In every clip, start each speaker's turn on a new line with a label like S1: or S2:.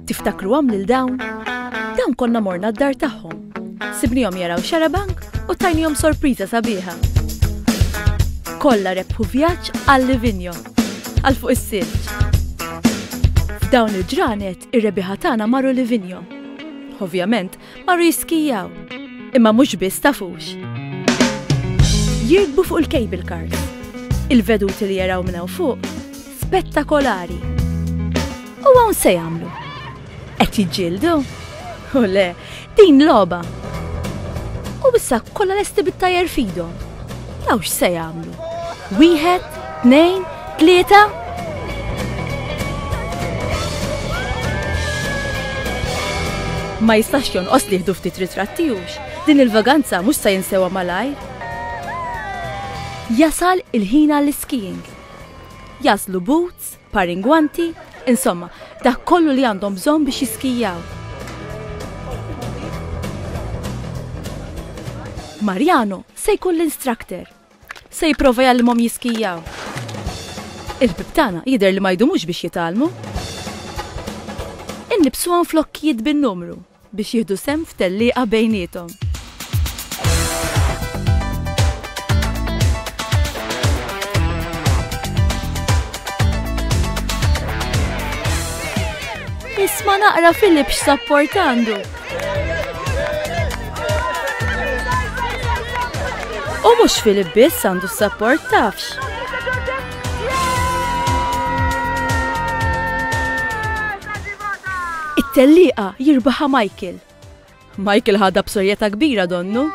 S1: Tiftakruhom lil dawn? Dawn konna morna d-dar tagħhom. Sibnihom jaraw xarabank u tajnihom sorpriża sabiħa. Kollha rebħu vjaġġ għal Livinjo, għal fuq is-silġ. F'dawn il-ġranet ir-rebiħa tagħna marru Livinjo. Ovvjament, marru jiskijaw. Imma mhux biss tafux. Jirkbu fuq il-cable cars. Il-veduti li jaraw minn hawn fuq spettakolari. U hawn se jagħmlu? Qed jiġġieldu? U le, din logħba. U issa kollha lesti bit-tajjer fidhom. Jaw x'se jagħmlu? Wieħed, tnejn, tlieta? Ma jistax jonqos li jħdu ftit ritrattijux, din il-vaganza mhux se jinsewa malaj. Jasal il-ħina l-skiing. Jaslu boots, parin gwanti, insomma, dak kollu li għandhom bżonn biex jiskijaw. Mariano se jkun l-instructor. Se jipprova jgħallimhom jiskijaw. Il-ħbib tagħna jidher li ma jdumux biex jitgħallmu. Innibsuhom flokkijiet bin-numru. biex jieħdu sehem f'tellieqa bejniethom. Isma' naqra Filip x'sapport għandu. U mhux Filip biss għandu s-sapport tafx. It-tellieqa jirbaħha Michael. Michael ħadha b'sorjetà kbira donnu.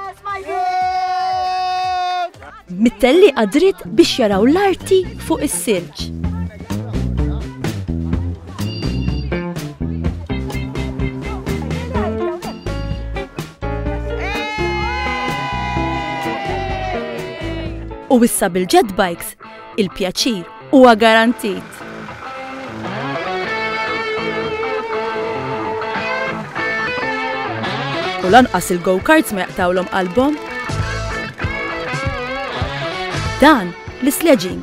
S1: Mit-tellieqa dritt biex jaraw l-arti fuq is-silġ. U issa bil-jet bikes l-effett, il-pjaċir huwa garantit. U lanqas il-go-karts ma jaqtawlhom qalbhom. Dan l-sledging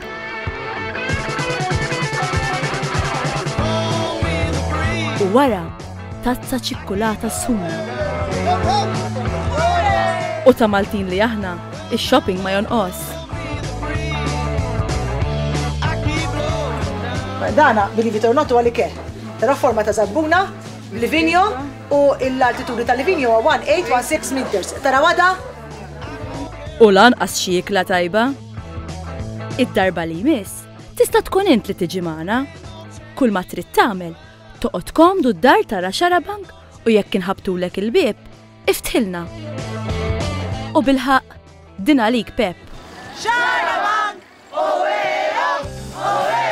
S1: wara tazza ċikkulata sħuna. U ta' Maltin li aħna, ix-shopping ma jonqos. Dana, billi vitornotu għalli ke. Tara forma ta' zabbuna, livinjo u l-altitudni ta' livinjo 1816 meters. Tara għada? U lan xi ikla tajba? Id-darba li jmiss, tista' tkun int li tiġi magħna. Kull ma trid tagħmel Toqgħod komdu d-dar tara xarabank u jekk inħabtulek il-bieb, iftħilna. U bilħaq, din għalik Pep. Xarabank! Oweo! Oweo!